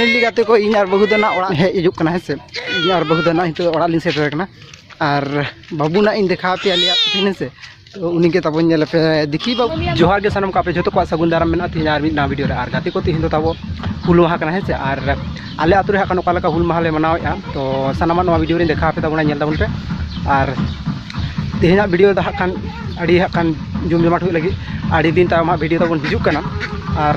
finally ᱜᱟᱛᱮ ᱠᱚ ᱤᱧ ᱟᱨ ᱵᱟᱹᱦᱩ ᱫᱚ ᱱᱟᱜ ᱚᱲᱟᱜ ᱦᱮᱡ ᱦᱤᱡᱩᱜ ᱠᱟᱱᱟ ᱦᱮᱸ ᱥᱮ ᱤᱧ ᱟᱨ ᱵᱟᱹᱦᱩ ᱫᱚ ᱱᱟᱜ ᱱᱤᱛᱚᱜ ᱚᱲᱟᱜ ᱞᱤᱧ ᱥᱮᱴᱮᱨ ᱟᱠᱟᱱᱟ ᱟᱨ ᱵᱟᱹᱵᱩ ᱱᱟᱜ ᱤᱧ ᱫᱮᱠᱷᱟᱣ ᱟᱯᱮᱭᱟ ᱟᱞᱮᱭᱟᱜ ᱠᱩᱴᱷᱤᱱ ᱦᱮᱸᱥᱮ ᱛᱚ ᱩᱱᱤᱜᱮ ᱛᱟᱵᱚ ᱧᱮᱞ ᱟᱯᱮ ᱫᱮᱠᱷᱤ ᱵᱟᱹᱵᱩ ᱡᱚᱦᱟᱨ ᱜᱮ ᱥᱟᱱᱟᱢ ᱠᱚ ᱟᱯᱮ ᱡᱚᱛᱚ ᱠᱚᱣᱟᱜ ᱥᱟᱹᱜᱩᱱ ᱫᱟᱨᱟᱢ ᱢᱮᱱᱟᱜᱼᱟ ᱛᱮᱦᱮᱧ ᱟᱨ ᱢᱤᱫ ᱱᱟᱣᱟ ᱵᱷᱤᱰᱤᱭᱳ ᱨᱮ ᱟᱨ ᱜᱟᱛᱮ ᱠᱚ ᱛᱮᱦᱮᱧ ᱫᱚ ᱛᱟᱵᱚ ᱦᱩᱞ ᱢᱟᱦᱟ ᱠᱟᱱᱟ ᱦᱮᱸᱥᱮ ᱟᱨ ᱟᱞᱮ ᱟᱛᱳ ᱨᱮ ᱦᱟᱸᱜ ᱚᱠᱟ ᱞᱮᱠᱟ ᱦᱩᱞ ᱢᱟᱦᱟ ᱞᱮ ᱢᱟᱱᱟᱣᱮᱫᱼᱟ ᱛᱚ ᱥᱟᱱᱟᱢᱟᱜ ᱱᱚᱣᱟ ᱵᱷᱤᱰᱤᱭᱳ ᱨᱤᱧ ᱫᱮᱠᱷᱟᱣ ᱟᱯᱮ ᱛᱟᱵᱚᱱᱟ ᱧᱮᱞ ᱛᱟᱵᱚᱱ ᱯᱮ ᱟᱨ ᱛᱮᱦᱮᱧᱟᱜ ᱵᱷᱤᱰᱤᱭᱳ ᱫᱚ ᱦᱟᱸᱜ ᱠᱷᱟᱱ ᱟᱹᱰᱤ ᱦᱟᱸᱜ ᱠᱷᱟᱱ ᱡᱚᱢ ᱡᱚᱢᱟᱴ ᱦᱩᱭᱩᱜ ᱞᱟᱹᱜᱤᱫ ᱟᱹᱰᱤ ᱫᱤᱱ ᱛᱟᱭᱚᱢ ᱦᱟᱸᱜ ᱵᱷᱤᱰᱤᱭᱳ ᱛᱟᱵᱚᱱ ᱦᱤᱡᱩᱜ ᱠᱟᱱᱟ ᱟᱨ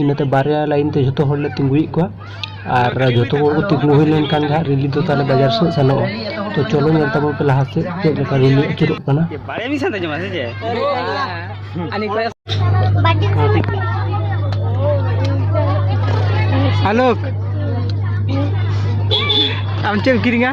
ᱤᱱᱟᱹᱛᱮ ᱵᱟᱨᱭᱟ ᱞᱟᱭᱤᱱ ᱛᱮ ᱡᱷᱚᱛᱚ ᱦᱚᱲᱞᱮ ᱛᱤᱸᱜᱩᱭᱮᱫ ᱠᱚᱣᱟ ᱟᱨ ᱡᱷᱚᱛᱚ ᱦᱚᱲ ᱠᱚ ᱛᱤᱸᱜᱩ ᱦᱩᱭ ᱞᱮᱱᱠᱷᱟᱱ ᱜᱮ ᱦᱟᱸᱜ ᱨᱮᱞᱤ ᱫᱚ ᱛᱟᱦᱚᱞᱮ ᱵᱟᱡᱟᱨ ᱥᱮᱫ ᱥᱮᱱᱚᱜᱼᱟ ᱛᱚ ᱪᱚᱞᱚ ᱧᱮᱞ ᱛᱟᱵᱚᱱ ᱯᱮ ᱞᱟᱦᱟ ᱥᱮᱫ ᱪᱮᱫ ᱞᱮᱠᱟ ᱨᱮᱞᱤ ᱟᱹᱪᱩᱨᱚᱜ ᱠᱟᱱᱟ ᱟᱞᱳᱠ ᱟᱢ ᱪᱮᱫ ᱮᱢ ᱠᱤᱨᱤᱧᱟ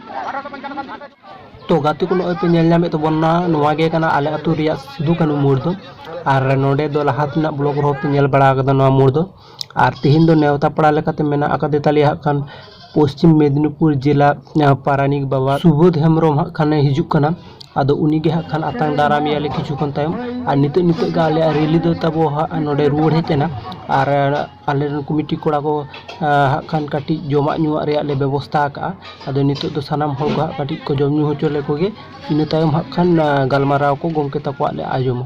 ᱛᱚ ᱜᱟᱛᱮ ᱠᱚ ᱱᱚᱜᱼᱚᱭ ᱯᱮ ᱧᱮᱞ ᱧᱟᱢᱮᱫ ᱛᱟᱵᱚᱱᱟ ᱱᱚᱣᱟ ᱜᱮ ᱠᱟᱱᱟ ᱟᱞᱮ ᱟᱹᱛᱩ ᱨᱮᱭᱟᱜ ᱥᱤᱫᱩ ᱠᱟᱹᱱᱩ ᱢᱳᱲ ᱫᱚ ᱟᱨ ᱱᱚᱰᱮ ᱫᱚ ᱞᱟᱦᱟ ᱛᱮᱱᱟᱜ ᱵᱞᱚᱜᱽ ᱨᱮᱦᱚᱸ ᱯᱮ ᱧᱮᱞ ᱵᱟᱲᱟ ᱟᱠᱟᱫᱟ ᱱᱚᱣᱟ ᱢᱳᱲ ᱫᱚ ᱟᱨ ᱛᱮᱦᱮᱧ ᱫᱚ ᱱᱮᱣᱛᱟ ᱯᱟᱲᱟ ᱞᱮᱠᱟᱛᱮ ᱢᱮᱱᱟᱜ ᱟᱠᱟᱫᱮ ᱛᱟᱞᱮᱭᱟ ᱦᱟᱸᱜ ᱠᱷᱟᱱ ᱯᱚᱥᱪᱤᱢ ᱢᱮᱫᱽᱱᱤᱯᱩᱨ ᱡᱮᱞᱟ ᱯᱟᱨᱟᱱᱤᱠ ᱵᱟᱵᱟ ᱥᱩᱵᱳᱫᱷ ᱦᱮᱢᱵᱨᱚᱢ ᱦᱟᱸᱜ ᱠᱷᱟᱱᱮ ᱦᱤᱡᱩᱜ ᱠᱟᱱᱟ ᱟᱫᱚ ᱩᱱᱤ ᱜᱮ ᱦᱟᱸᱜ ᱠᱷᱟᱱ ᱟᱛᱟᱝ ᱫᱟᱨᱟᱢᱮᱭᱟ ᱞᱮ ᱠᱤᱪᱷᱩ ᱠᱷᱚᱱ ᱛᱟᱭᱚᱢ ᱟᱨ ᱱᱤᱛᱚᱜ ᱱᱤᱛᱚᱜ ᱜᱮ ᱟᱞᱮᱭᱟᱜ ᱨᱮᱞᱤ ᱫᱚ ᱛᱟᱵᱚ ᱦᱟᱸᱜ ᱱᱚᱰᱮ ᱨᱩᱣᱟᱹᱲ ᱦᱮᱡ ᱮᱱᱟ ᱟᱨ ᱟᱞᱮ ᱨᱮᱱ ᱠᱚᱢᱤᱴᱤ ᱠᱚᱲᱟ ᱠᱚ ᱦᱟᱸᱜ ᱠᱷᱟᱱ ᱠᱟᱹᱴᱤᱡ ᱡᱚᱢᱟᱜ ᱧᱩᱣᱟᱜ ᱨᱮᱭᱟᱜ ᱞᱮ ᱵᱮᱵᱚᱥᱛᱷᱟ ᱟᱠᱟᱫᱼᱟ ᱟᱫᱚ ᱱᱤᱛᱚᱜ ᱫᱚ ᱥᱟᱱᱟᱢ ᱦᱚᱲ ᱠᱚ ᱦᱟᱸᱜ ᱠᱟᱹᱴᱤᱡ ᱠᱚ ᱡᱚᱢ ᱧᱩ ᱦᱚᱪᱚ ᱞᱮᱠᱚ ᱜᱮ ᱤᱱᱟᱹ ᱛᱟᱭᱚᱢ ᱦᱟᱸᱜ ᱠᱷᱟᱱ ᱜᱟᱞᱢᱟᱨᱟᱣ ᱠᱚ ᱜᱚᱢᱠᱮ ᱛᱟᱠᱚᱣᱟᱜ ᱞᱮ ᱟᱸᱡᱚᱢᱟ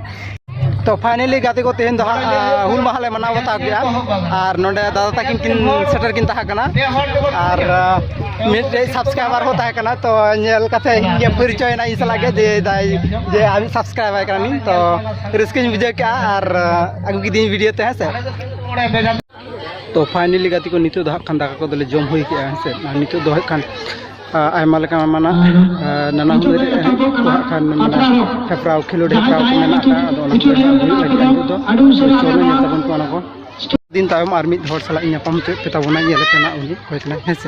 ᱛᱚ ᱯᱷᱟᱭᱱᱮᱞᱤ ᱜᱟᱛᱮ ᱠᱚ ᱛᱮᱦᱮᱧ ᱫᱚ ᱦᱟᱸᱜ ᱦᱩᱞ ᱢᱟᱦᱟ ᱞᱮ ᱢᱟᱱᱟᱣ ᱵᱟᱛᱟᱣ ᱠᱮᱜᱼᱟ ᱟᱨ ᱱᱚᱰᱮ ᱫᱟᱫᱟ ᱛᱟᱹᱠᱤᱱ ᱠᱤᱱ ᱥᱮᱴᱮᱨ ᱠᱤᱱ ᱛᱟᱦᱮᱸ ᱠᱟᱱᱟ ᱟᱨ ᱢᱤᱫᱴᱮᱡ ᱥᱟᱵᱥᱠᱨᱟᱭᱵᱟᱨ ᱦᱚᱸ ᱛᱟᱦᱮᱸ ᱠᱟᱱᱟ ᱛᱚ ᱧᱮᱞ ᱠᱟᱛᱮ ᱤᱧ ᱯᱚᱨᱤᱪᱚᱭᱮᱱᱟ ᱤᱧ ᱥᱟᱞᱟᱜ ᱜᱮ ᱡᱮ ᱫᱟᱭ ᱡᱮ ᱟᱢ ᱥᱟᱵᱥᱠᱨᱟᱭᱵᱟᱨ ᱠᱟᱱᱟᱞᱤᱧ ᱛᱚ ᱨᱟᱹᱥᱠᱟᱹᱧ ᱵᱩᱡᱷᱟᱹᱣ ᱠᱮᱜᱼᱟ ᱟᱨ ᱟᱹᱜᱩ ᱠᱤᱫᱤᱧ ᱵᱷᱤᱰᱤᱭᱳ ᱛᱮ ᱦᱮᱸ ᱥᱮ ᱛᱚ ᱯᱷᱟᱭᱱᱮᱞᱤ ᱜᱟᱛᱮ ᱠᱚ ᱱᱤᱛᱚᱜ ᱫᱚ ᱦᱟᱸᱜ ᱠᱷᱟᱱ ᱫᱟᱠᱟ ᱠᱚᱫᱚᱞᱮ ᱡᱚᱢ ᱦᱩᱭ ᱠᱮᱜᱼᱟ ᱦᱮᱸ ᱥᱮ ᱟᱨ ᱱᱤᱛᱚᱜ ᱫᱚ ᱦᱟᱸᱜ ᱠᱷᱟᱱ ᱟᱭᱢᱟ ᱞᱮᱠᱟ ᱢᱟᱱᱟ ᱱᱟᱱᱟ ᱦᱩᱱᱟᱹᱨ ᱠᱚ ᱦᱟᱸᱜ ᱠᱷᱟᱱ ᱢᱟᱱᱟ ᱦᱮᱯᱨᱟᱣ ᱠᱷᱮᱞᱳᱰ ᱦᱮᱯᱨᱟᱣ ᱠᱚ ᱢᱮᱱᱟᱜ ᱟᱠᱟᱫᱼᱟ ᱟᱫᱚ ᱚᱱᱟ ᱠᱚ ᱦᱩᱭᱩᱜ ᱞᱟᱹᱜᱤᱫ ᱱᱤᱛᱚᱜ ᱫᱚ ᱪᱚᱞᱚ ᱧᱮᱞ ᱛᱟᱵᱚᱱ ᱠᱚ ᱚᱱᱟ ᱠᱚ ᱫᱤᱱ ᱛᱟᱭᱚᱢ ᱟᱨ ᱢᱤᱫ ᱦᱚᱲ ᱥᱟᱞᱟᱜ ᱧᱟᱯᱟᱢ ᱦᱚᱪᱚᱭᱮᱫ ᱯᱮ ᱛᱟᱵᱚᱱᱟ ᱧᱮᱞᱮᱫ ᱯᱮ ᱱᱟᱜ ᱩᱱᱤ ᱚᱠᱚᱭ ᱠᱟᱱᱟᱭ ᱦᱮᱸ ᱥᱮ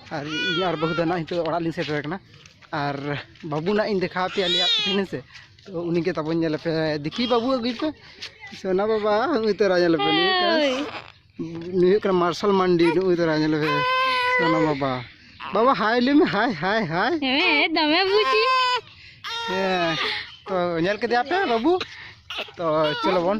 ᱟᱨ ᱤᱧ ᱟᱨ ᱵᱟᱹᱦᱩ ᱫᱚ ᱱᱟᱜ ᱱᱤᱛᱚᱜ ᱚᱲᱟᱜ ᱞᱤᱧ ᱥᱮᱴᱮᱨ ᱟᱠᱟᱱᱟ ᱟᱨ ᱵᱟᱹᱵᱩ ᱱᱟᱜ ᱤᱧ ᱫᱮᱠᱷᱟᱣ ᱟᱯᱮᱭᱟ ᱟᱞᱮᱭᱟᱜ ᱛᱤᱠᱤᱱ ᱦᱮᱸ ᱥᱮ ᱛᱚ ᱩᱱᱤᱜᱮ ᱛᱟᱵᱚᱱ ᱧᱮᱞ ᱯᱮ ᱫᱮᱠᱷᱤ ᱵᱟᱹᱵᱩ ᱟᱹᱜᱩᱭ ᱯᱮ ᱥᱚᱱᱟ ᱵᱟᱵᱟ ᱩᱱᱤ ᱛᱚᱨᱟ ᱧᱮᱞ ᱯᱮ ᱱᱩᱭ ᱠᱟᱱᱟ ᱱᱩᱭ ᱦᱩᱭᱩᱜ ᱠᱟᱱᱟ ᱢᱟᱨᱥᱟᱞ ᱢᱟᱱᱰᱤ ᱱᱩᱭ ᱛᱚᱨᱟ ᱧᱮᱞ ᱯᱮ ᱥᱚᱱᱟ ᱵᱟᱵᱟ ᱵᱟᱵᱟ ᱦᱟᱭ ᱞᱟᱹᱭ ᱢᱮ ᱦᱟᱭ ᱦᱟᱭ ᱦᱟᱭ ᱦᱮᱸ ᱫᱚᱢᱮ ᱵᱩᱡᱷᱤ ᱦᱮᱸ ᱛᱚ ᱧᱮᱞ ᱠᱮᱫᱮᱭᱟ ᱯᱮ ᱵᱟᱹᱵᱩ ᱛᱚ ᱪᱚᱞᱚ ᱵᱚᱱ